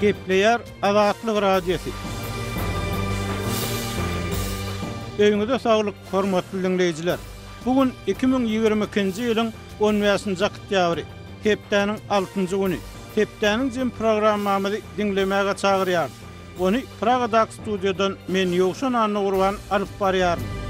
Gepleýär Azatlyk Radiosy. Öýüňize saglyk, hormatly diňleýjiler! Bu gün iki müň ýigrimi ikinji ýylyň on bäşinji oktýabry, hepdäniň altynjy güni. Hepdäniň jemi programmamyzy diňlemäge çagyrýarys. Ony Pragadaky studiýadan men Ýowşan Annagurban alyp barýaryn.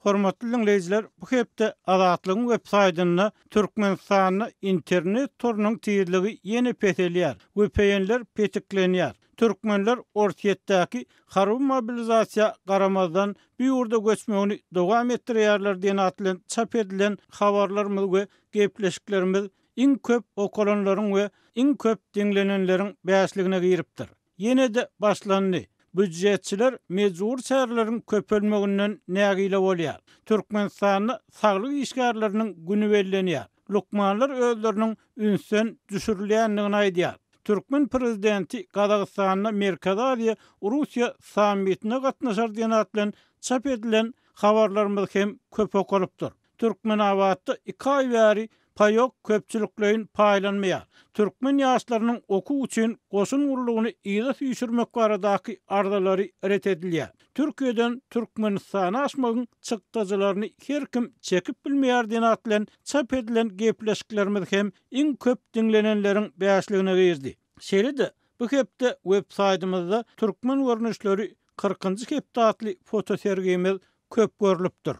Hormatly diňleýjiler, bu hepde Azatlygyň web saýtynda Türkmenistanda internet torunyň tizligi ýene peselýär, VPN-ler petiklenýär, türkmenler Orsýetdäki harby mobilizasiýa garamazdan bu ýurda göçmegini dowam etdirýärler diýen at bilen çap edilen habarlarymyz we gepleşiklerimiz iň köp okalanlaryň we iň köp diňlenenleriň bäşligine giripdir. Ýene-de başlandy. Býujetçiler mejbury çäreleriň köpelmeginden nägile bolýar. Türkmenistanda saglyk işgärleriniň güni bellenýär. Lukmanlar özleriniň ünsden düşürilýändigini aýdýar. Türkmen prezidenti Gazagystanda Merkezi Aziýa, Russiýa sammitine gatnaşar diýen at bilen çap edilen habarlarymyz hem köp okalypdyr. Türkmenabatda iki aý bäri paýok köpçülikleýin paýlanmaýar. Türkmen ýaşlarynyň okuw üçin goşun gullugyny yza süýşürmek baradaky arzalary ret edilýär. Türkiýeden Türkmenistana aşmagyň çykdajylaryny her kim çekip bilmeýär denatlen çap edilen gepleşiklerimiz hem iň köp diňlenenleriň bäşligine girdi. Şeýle-de, bu hepde websaýtymyzda Türkmen görnüşleri kyrkynjy hepde atly fotosergimiz köp görlüpdir.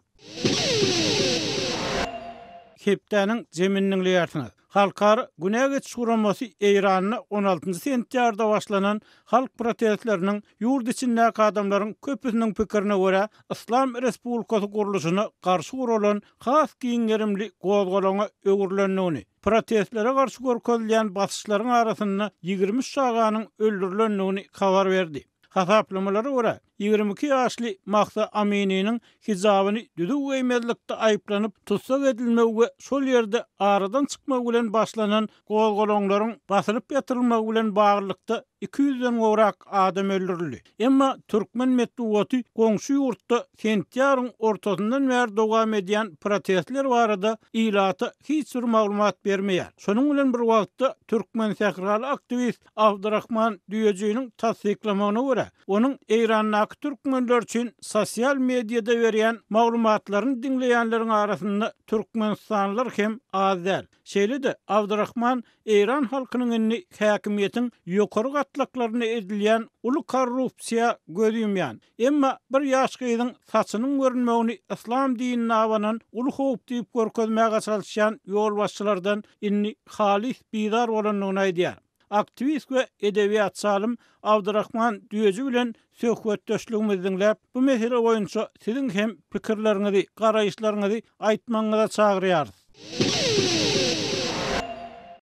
Hepdäniň jemini diňleýärsiňiz. Halkara günä geçiş guramasy Eýranda on altynjy sentýarda başlanan halk protestleriniň ýurt içindäki adamlaryň köpüsiniň pikirine görä, Yslam Respublikasy gurluşyna garşy guralan has giň gerimli gozgalaňa öwrülendigini, protestlere garşy görkezilýän basyşlaryň arasynda ýigrimi üç çaganyň öldürilendigini habar berdi. Hasaplamalara görä, ýigrimi iki ýaşly Mahsa Amininiň hijabyny düzüw geýmezlikde aýyplanyp tussag edilmegi we şol ýerde aradan çykmagy bilen başlanan Gozgalaňlaryň basylyp ýatyrylmagy bilen baglylykda iki ýüzden gowrak adam öldürildi. Emma türkmen metbugaty goňşy ýurtda sentýabryň ortasyndan bäri dowam edýän protestler barada ilata hiç bir maglumat bermeýär. Şonuň bilen bir wagtda, türkmensähraly aktiwist Abdurahman Düýejiniň tassyklamagyna görä, onuň Eýrandaky türkmenler üçin sosial mediada berýän maglumatlaryny diňleýänleriň arasynda türkmenistanlylar hem az däl. Şeýle-de, Abdurahman eýran halkynyň indi häkimiýetiň ýokary gatlaklarynda edilýän uly korrupsiýa göz ýumýan, emma bir ýaş gyzyň saçynyň görünmegini yslam dinine abanan uly howp diýip görkezmäge çalyşýan ýolbaşçylardan indi halys bizar bolandygyny aýdýar. aktiwist we edebiýatçy alym Abdyrahman Düýeji bilen söhbetdeşligimizi diňläp, bu mesele boýunça siziň hem pikirleriňizi, garaýyşlaryňyzy aýtmagyňyza çagyrýarys.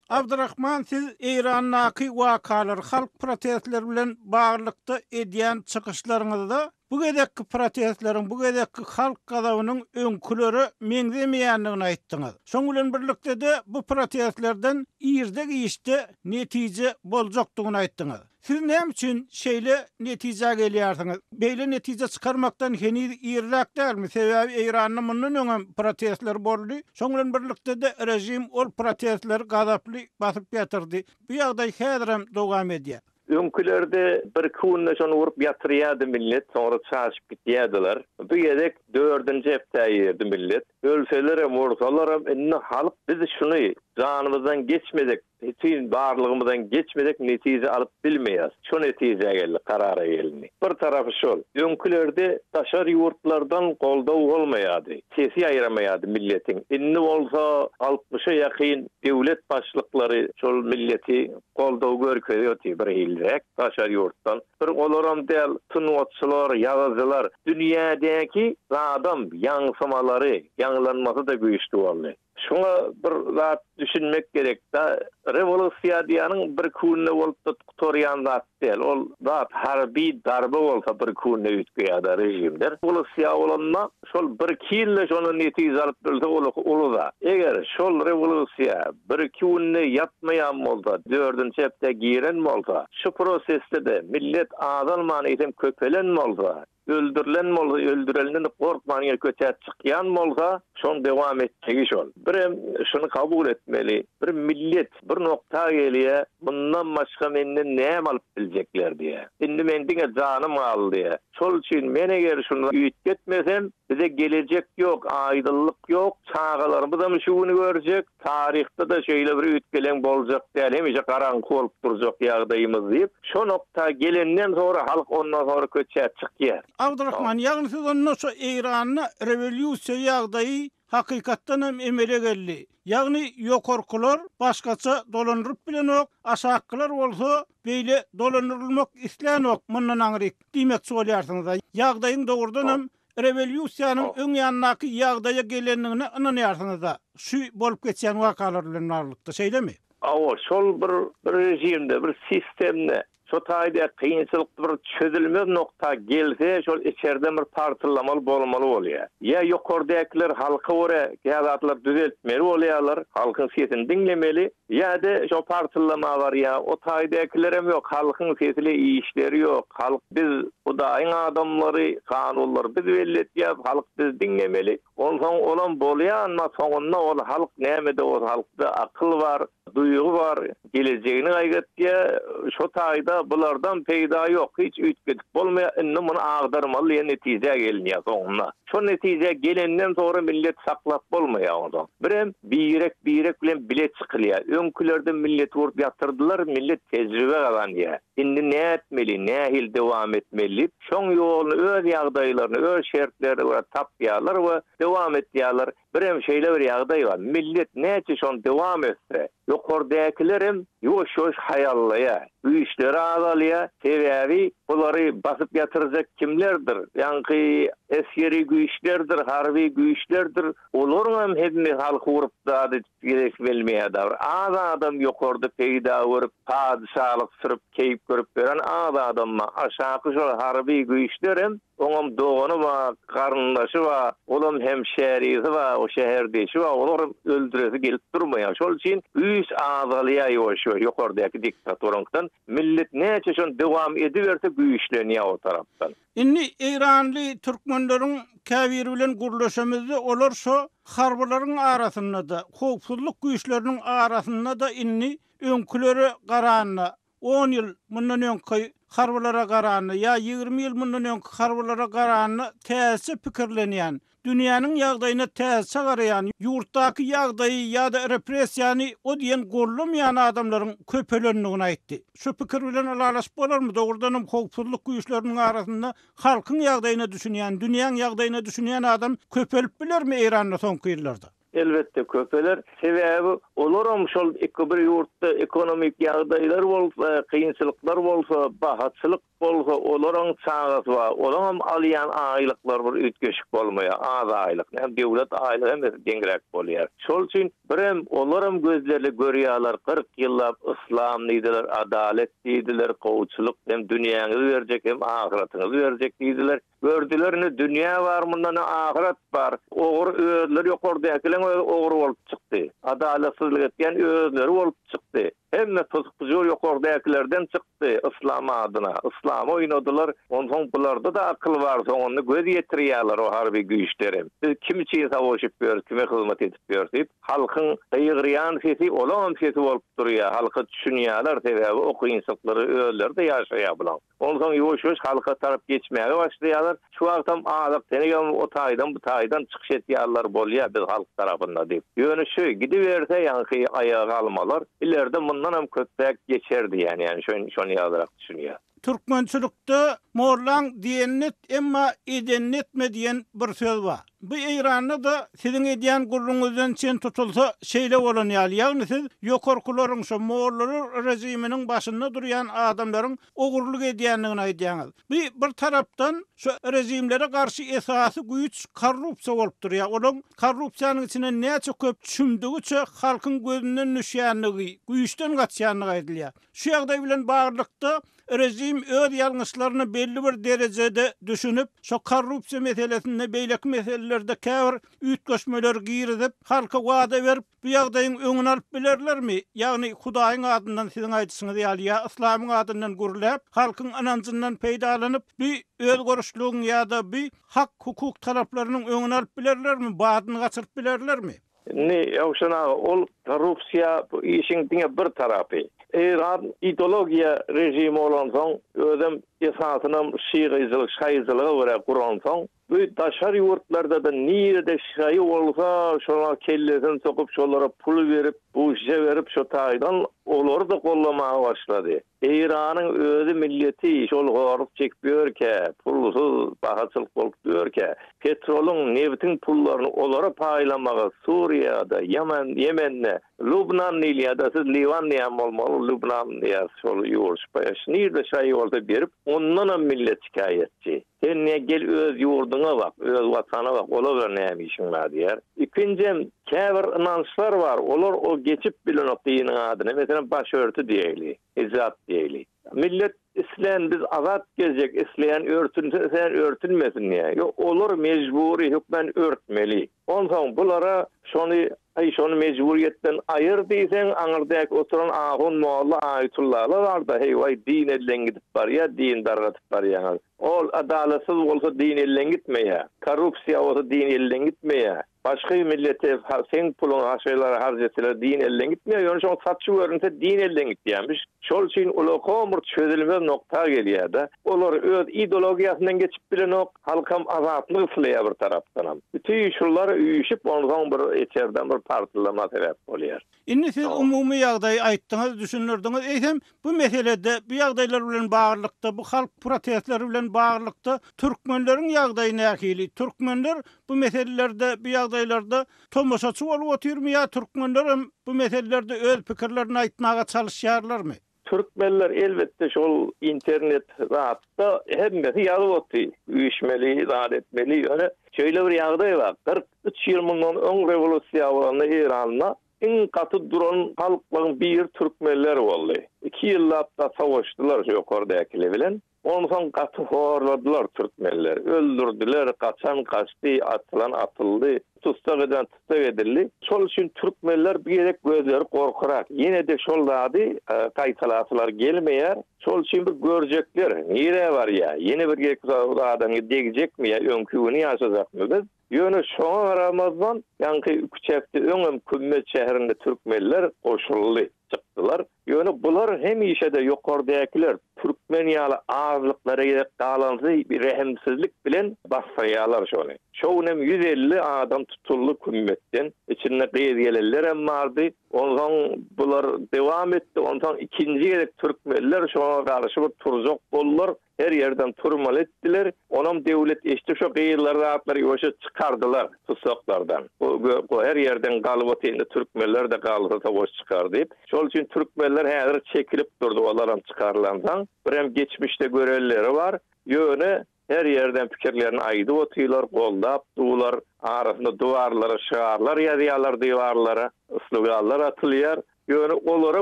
Abdyrahman, siz Eýrandaky wakalar, halk protestleri bilen baglylykda edýän çykyşlaryňyzda Bu gezekki protestleriň, bu gezekki halk gazabynyň öňkülere meňzemeýändigini aýtdyňyz. Şoň bilen birlikde-de, bu protestlerden irde-giçde netije boljakdygyny aýtdyňyz. Siz näme üçin şeýle netijä gelýärsiňiz? Beýle netije çykarmakdan heniz irräk dälmi? Sebäbi Eýranda mundan öňem protestler boldy. Şoň bilen birlikde-de, režim ol protestleri gazaply basyp ýatyrdy. Bu ýagdaý häzirem dowam edýär. Öňkülerde birki günde şony urup ýatyrýardy millet, soňra çaşyp gitýärdiler. Bu gezek dördünji hepdä girdi millet. Ölselerem, ursalaram indi halk biz şuny janymyzdan geçmesek, bütin barlygymyzdan geçmesek netije alyp bilmeýäs. Şu netijä geldik, karara gelindi. Bir tarapy şol. Öňkülerde daşary ýurtlardan goldaw bolmaýardy. Sesi ýaýramaýardy milletiň. Indi bolsa altmyşa ýakyn döwlet başlyklary şol milleti goldaw görkezýärdi bir hilräk daşary ýurtdan bir olaram däl sungatçylar ýazyjylar dünýädäki zadam ýaňsymalary ýaňlanmasy-da güýçli boldy şuňa bir zat düşünmek gerek da rewolusiýa diýýäniň bir künde bolup-da gutarýan zat däl ol zat harby darba bolsa bir künde üýtgeýärda režimler rewolusiýa bolanda Şol bir-iki ýylda şondan netije alyp bilse ol uly zat. Eger şol rewolýusiýa bir-iki günde ýatmaýan bolsa, dördünji hepdä giren bolsa, şu prosesde-de millet azalman eýsem köpelen bolsa, öldürilen bolsa, öldüreninden gorkman ýene kötäp çykýan bolsa, şoň dowam etjegi şol. Birem şuny kabul etmeli, Bir millet bir nokta gelýä, mundan başga menden näme alyp biljekler diýä. Indi men diňe janym galdy. Şol üçin men eger şunda üýtgetmesem, bize gelejek ýok, aýdylyk ýok, çagalarymyzam şu güni görjek, taryhda-da şeýle bir üýtgeleň boljak däl, hemişe garaňky bolup durjak ýagdaýymyz diýip, şo nokta gelenden sonra halk ondan sonra köçä çykýa. Abdurahman, ýagny siz onda şu Eýranda rewolýusiýa ýagdaýy hakykatdanam emele geldi. Ýagny ýokarkylar başgaça dolandyryp bilenok, aşakkylar bolsa beýle dolandyrylmak islänok mundan aňryk diýmekçi bolýarsyňyz-a. Ýagdaýyň dogrudanam rewolýusiýanyň öň ýandaky ýagdaýa gelendigine ynanýarsyňyz-a, şu bolup geçýän wakalar bilen baglylykda, şeýlemi? Hawa, şol bir režimde, bir sistemde Şo taýda kynçylykly bir çözülmez nokta gelse şol içerden bir partyllamaly bolmaly bolýar. Ýa ýokardäkiler halka görä kä zatlar düzeltmeli bolýarlar, halkyň sesini diňlemeli, ýa-de şo partyllama barýar, o taýdakilerem ýok, halkyň sesile işleri ýok, halk biz hudaýyň adamlary, kanunlary biz belli etýäs, halk bizi diňlemeli, onsoň olam bolýanma soňunda ol halk nämede bolsa halkda akyl bar, Duýgy bar, gelejegini gaýgatýar, şo taýda bulardan peýda ýok, hiç üýtgedip bolmaýar, indi muny agdarmaly diýen netijä gelinýär soňunda. Şo netijä gelenden soňra milleti saklap bolmaýar onsoň. Birem birek birek bilen bile çykylýar. Öňkülerde milleti urup ýatyrdylar, millet tejribe gazanýar. Indi nätmeli, nähili dowam etmeli diýip, şoň ýoluny öz ýagdaýlaryna, öz şertlerine görä tapýarlar we dowam etýärler. Birem şeýle bir ýagdaý bar, millet näçe şony dowam etse, ýokardäkilerem ýuwaş-ýuwaş haýallaýar, güýçleri azalýar, sebäbi bulary basyp ýatyrjak kimlerdir, ýaňky esgeri güýçlerdir, harby güýçlerdir, olaryňam hemmi halky urup zat edip gezesi gelmeýärda bir az adam ýokarda peýda görüp, padyşalyk sürüp, keýp görüp ýören az adam bar, aşaky şol harby güýçlerem Oňam dogany bar, garyndaşy bar, olam hem şährisi bar, şäherdişi bar, olar hem öldüresi gelip durmaýar. Şol üçin güýç azalýar ýuwaş-ýuwaş ýokardäki diktatoranyňkydan. Millet näçe şony dowam ediberse güýçlenýär o tarapdan. Indi eýranly türkmenleriň käbiri bilen gürleşemizde olar şo harbylaryň arasynda-da, howpsuzlyk güýçleriniň arasynda-da indi öňkülere garanda On ýyl mundan öňki harbylara garanda ýa ýigrimi ýyl mundan öňki harbylara garanda täzeçe pikirlenýän, dünýäniň ýagdaýyna täzeçe garaýan, ýurtdaky ýagdaýy ýa-da repressiýany o diýen goldamaýan adamlaryň köpelendigini aýtdy. Şu pikir bilen ylalaşyp bolarmy, dogrudanam howpsuzlyk güýçleriniň arasynda halkyň ýagdaýyna düşünýän, dünýäň ýagdaýyna düşünýän adam köpelip bilermi Eýranda soňky ýyllarda? Elbetde köpeler, sebäbi olaram şol iki bir ýurtda ekonomik ýagdaýlar bolsa, kynçylyklar bolsa, bahaçylyk bolsa olaryň çagasy bar, olaňam alýan aýlyklary bir üýtgeşik bolmaýar, az aýlyk, näme döwlet aýlygy hemmesi deňräk bolýar. Şol üçin birem olaram gözleri görýärler, kyrk ýyllap yslam diýdiler, adalet diýdiler, gowuçylyk, hem dünýäňizi berjek, hem ahyratyňyzy berjek diýdiler, Gördüler indi dünýä bar mundan öň ahyret bar. Ogry özleri ýokardäkileň özi ogry bolup çykdy. Adalatsyzlyk etýän özleri bolup çykdy. Hemme pyzyk pyjur ýokardäkilerden çykdy yslam adyna. Yslamy oýnadylar. Onsoň bularda-da akyl bar soňunda göz ýetirýäler o harby güýçlerem. Biz kim üçin savaşyp ýörüs kime hyzmat edip ýörüs diýip halkyň gygyrýan sesi olaňam sesi bolup durýa halka düşünýäler sebäbi o kynçylyklary özleri-de ýaşaýa bulaň. Onsoň ýuwaş-ýuwaş halka tarap geçmäge başlaýarlar. Şu wagtam azak tenegem o taýdan bu taýdan çykyş etýärler, bolýa biz halk tarapynda diýip. Ýöne şu gidiberse ýaňky aýaga galmalar ilerde mundan hem köpräk geçer diýýän ýany şoň şony ýalyrak düşünýän. Türkmençilikde Mollaň diýenini et emma edenini etme diýen bir söz bar. Bu Eýranda-da siziň edýän gürrüňizden çen tutulsa, şeýle bolan ýaly, ýagny siz ýokarkylaryň, şo mollalar režiminiň başynda durýan adamlaryň ogurlyk edýändigini aýdýaňyz. Bu bir tarapdan şo režimlere garşy esasy güýç korrupsiýa bolup durýar. Olaň korrupsiýanyň içine näçe köp çümdügiçe halkyň gözünden düşýändigi, güýçden gaçýandygy aýdylýar. Şu ýagdaý bilen baglylykda Režim öz ýalňyşlaryna belli bir derejede düşünip, şo korrupsiýa meselesinde beýleki meselelerde käbir üýtgeşmeleri girizip, halka wada berip, bu ýagdaýyň öňüni alyp bilerlermi? Ýagny, Hudaýyň adyndan siziň aýdyşyňyz ýaly ýa yslamyň adyndan gürläp, halkyň ynanjyndan peýdalanyp, bi özgörüşligiň ýa-da bi hak-hukuk talaplarynyň öňüni alyp bilerlermi, badyny gaçyryp bilerlermi? Indi Ýowşan aga, ol korrupsiýa bu işiň diňe bir tarapy. Eýran ideologiýa režimi bolansoň, özem esasynam şygyjylyk, şaýyjylyga görä guransoň, bu daşary ýurtlarda-da nirede şaýy bolsa, şolar kellesini sokup, şolara pul berip, buşişe berip, şo taýdan olary-da gollamaga başlady. Eýranyň özi milleti şol zorluk çekip ýörkä, pulsyz, bahaçylyk bolup ýörkä, petrolyň, nebtiň pullaryny olara paýlamagy Suriýada, Ýaman, Ýemende, Lubnan diýilýär-de, siz Liwan diýen bolmaly, Lubnan diýýär, şol ýurt, şnir-de şaý bolsa berip, ondanam millet şikaýatçy. Sen ne gel öz ýurduňa bak, öz watana bak, ola bilen näme işiň bar diýer. Ikinjem, käbir ynançlar bar, olar o geçip bilenok diniň adyna, meselem, başörti diýeýli, hijap diýeýli. Millet islän biz azat gezjek, isleýän örtünse, isleýän örtünmesin diýýär. Ýok, olar mejbury hökmän örtmeli. Onsoň bulara şony, Aý, şony mejburyýetden aýyr diýseň, aňyr dek oturan ahun molla Aýytullala bar-da, heý-waý, din elden gidip barýar, dini dargadyp barýaňyz. Ol adalatsyz bolsa din elden gitmeýär. Korrupsiýa bolsa din elden gitmeýär. Başga millete seň puluňy haşylara harç etseler din elden gitmeýär. Ýöne şoňa saçy görünse din elden gitýärmiş. Şol üçin ulag homur çözülmez nokta gelýärde, olar öz idologiýasyndan geçip bilenok, halkam azatlyk isleýär bir tarapdanam. Bütin şular üýşüp onsoň bir içerden bir partlama sebäp bolýar. Indi siz umumy ýagdaýy aýtdyňyz, düşündirdiňiz, eýsem bu meselede, bu ýagdaýlar bilen baglylykda, bu halk protestleri bilen baglylykda türkmenleriň ýagdaýy nähili? Türkmenler bu meselelerde, bu ýagdaýlarda Tomaşaçy bolup otyrmy ýa türkmenlerem bu meselelerde öz pikirlerini aýtmaga çalyşýarlarmy? Türkmenler elbetde şol internet zatda hemmesi ýazyp otdy. Üýşmeli, zat etmeli. Ýöne şeýle bir ýagdaý bar. Kyrk üç ýyl mundan öň rewolýusiýa bolanda Eýranda iň gaty duran halklaň biri türkmenler boldy. Iki ýyllap da sowaşdylar şu ýokardäkiler bilen. Onsoň gaty horladylar türkmenleri. Öldürdiler, gaçan gaçdy, atylan atyldy, tussag eden tussag edildi. Şol üçin türkmenler bu gezek gözleri gorkurak. Ýene-de şol zady gaýtalasylar gelmeýär. Şol üçin bir görjekler, nirä barýar, ýene bir gezek bu zada degjekmi ýa öňki güni ýaşajakmy biz? Ýöne şoňa garamazdan, ýaňky iki çäkde öňem Kümmet şäherinde türkmenler goşuldy, çykdylar. Ýöne bular hemişe-de ýokardäkiler, türkmen ýaly azlyklara gezek galanzy rehimsizlik bilen basdyrýarlar şony. Şo günem ýüz elli adam tutuldy Kümmetden. Içinde gyz gelinlerem bardy. Onsoň bular dowam etdi. Onsoň ikinji gezek türkmenler şoňa garşy bir turjak boldular. Her ýerden turmaly etdiler. Onam döwlet eşdi şo gyzlar zatlar ýoşa çykardylar tussaklardan. Bu go her ýerden galyp otyr indi türkmenlerde galsa savaş çykar diýip. Şol üçin türkmenler häzir çekilip durdy olaram çykarylandan. Birem geçmişde görenleri bar. Ýöne her ýerden pikirlerini aýdyp otylar goldap dular. Arasynda duwarlara şygarlar ýazýalar diwarlara sloganlar atylýar. Ýöne olara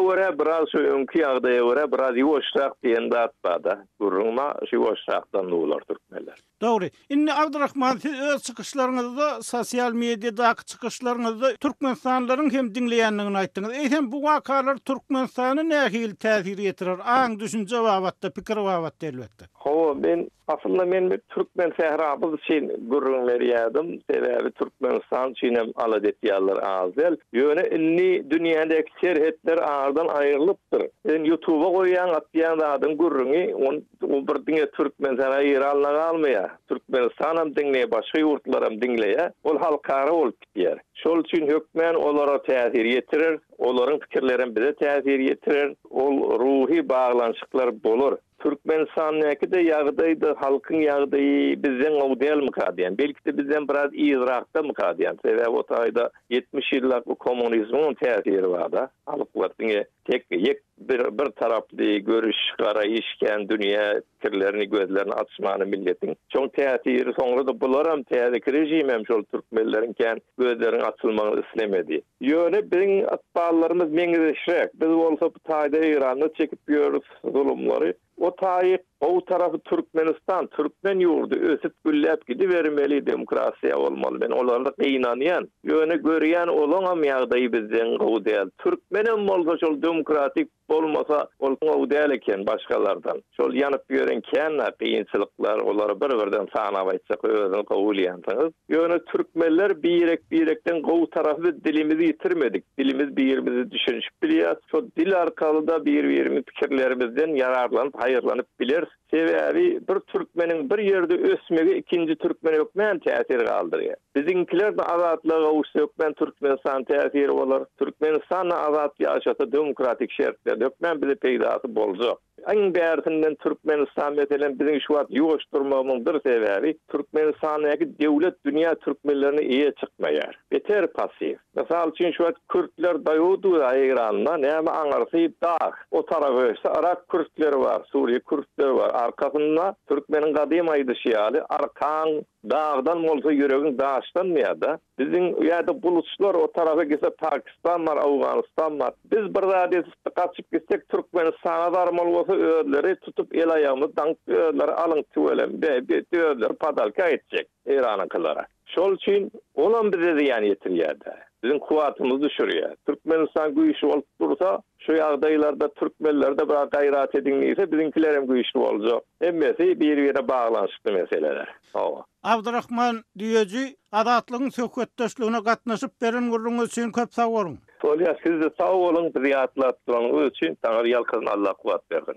görä biraz şu öňki ýagdaýa görä biraz ýuwaşrak diýen zat barda gürrüň ma şu ýuwaşrakdan bular türkmenler. Dogry. Indi Abdurahman siz öz çykyşlaryňyzda sosial mediadaky çykyşlaryňyzda türkmenistanlylaryň hem diňleýändigini aýtdyňyz. Eýsem bu wakalar Türkmenistana nähili täsir ýetirer aň düşünje babatda pikir babatda elbetde. Hawa, men, aslynda men bir türkmen sährabuz üçin gürrüň berýärdim, sebäbi Türkmenistan üçin hem alada etýänler az däl. Ýöne indi dünýädäki serhetler aradan aýrylypdyr. Sen ýutuba goýýaň, atýaň zadyň gürrüňi, ony, o bir diňe Türkmenistana, Eýrana galmaýar. Türkmenistanam diňleýär, başga ýurtlaram diňleýär. Ol halkara bolup gidýär. Şol üçin hökmän olara täsir ýetirer, olaryň pikirlerem bize täsir ýetirer. Ol ruhy baglanyşyklar bolar. Türkmenistandaky-da ýagdaýda halkyň ýagdaýy bizden gowy dälmika diýýän. Belki-de bizden biraz yzrakdamyka diýýän. Sebäbi o taýda ýetmiş ýyllap bu kommunizmiňem täsiri bar-da. Halklar diňe tek ýek bir bir taraply görüş, garaýyş kän dünýä pikirlerini, gözlerini açmany milletiň. Şoň täsiri soňra-da bularam täzeki režimem şol türkmenleriň kän gözleriniň açylmagyny islemedi. Ýöne biziň ykballarymyz meňzeşräk. Biz bolsa bu taýda Eýranda çekip ýörüs zulumlary. O taýy gowy tarapy Türkmenistan, türkmen ýurdy ösüp gülläp gidibermeli, demokratiýa bolmaly. Men olara gynanýan. Ýöne görýän olaňam ýagdaýy bizden gowy däl. Türkmenem bolsa şol demokratik Bolmasa, ol gowy däl eken başgalardan. Şol ýanyp ýören känä kynçylyklar, olary bir-birden sanap aýtjak özüňiz gowy bilýänsiňiz. Ýöne türkmenler birek-birekden gowy tarapy biz dilimizi ýitirmedik. Dilimiz birimizi düşünişip bilýäs. Şo dil arkaly-da bir-birimiz pikirlerimizden ýararlanyp haýyrlanyp bileris. Sebäbi bir türkmeniň bir ýerde ösmegi ikinji türkmen hökmän täsir galdyrýar. Biziňkiler-de azatlyga gowuşsa hökmän Türkmenistana täsiri bolar. Türkmenistan-da azat ýaşasa demokratik şertlerde hökmän bize peýdasy boljak. Iň bärisinden Türkmenistan meselem biziň şu wagt ýuwaş durmagymyň bir sebäbi Türkmenistandaky döwlet dünýä türkmenlerine eýe çykmaýar. Beter passiw. Mysal üçin şu wagt kürtler Dawud we Eýranda näme aňyrsy dag. O tarap öçse Yrak kürtleri bar, Suriýe kürtleri bar. Arkasynda türkmeniň gadym aýdyşy ýaly arkaň dagdan bolsa ýüregiň daşdanmyýada. Biziň ýada buluçlar o tarapa gitse Pakistan bar, Awganystan bar. Biz bir zat edip gaçyp gitsek Türkmenistana zarmaly bolsa özleri tutup el aýagymyzy daňyp özleri alyň tüweleme diýip özleri padalka etjek Eýranyňkylara. Şol üçin olam bize zyýan ýetirýär-de, biziň kuwwatymyzy düşürýär. Türkmenistan güýçli bolup dursa, şu ýagdaýlarda türkmenler-de biraz gaýrat ediň diýse, biziňkiler hem güýçli boljak. Hemmesi bir-birine baglanyşykly meseleler. Hawa. Abdyrahman Düýeji, Azatlygyň söhbetdeşligine gatnaşyp beren gürrüňiňiz üçin köp sag boluň! Bolýar, siz-de sag boluň, bizi ýatlap duranyňyz üçin. Taňry ýalkasyn, Alla kuwwat bersin!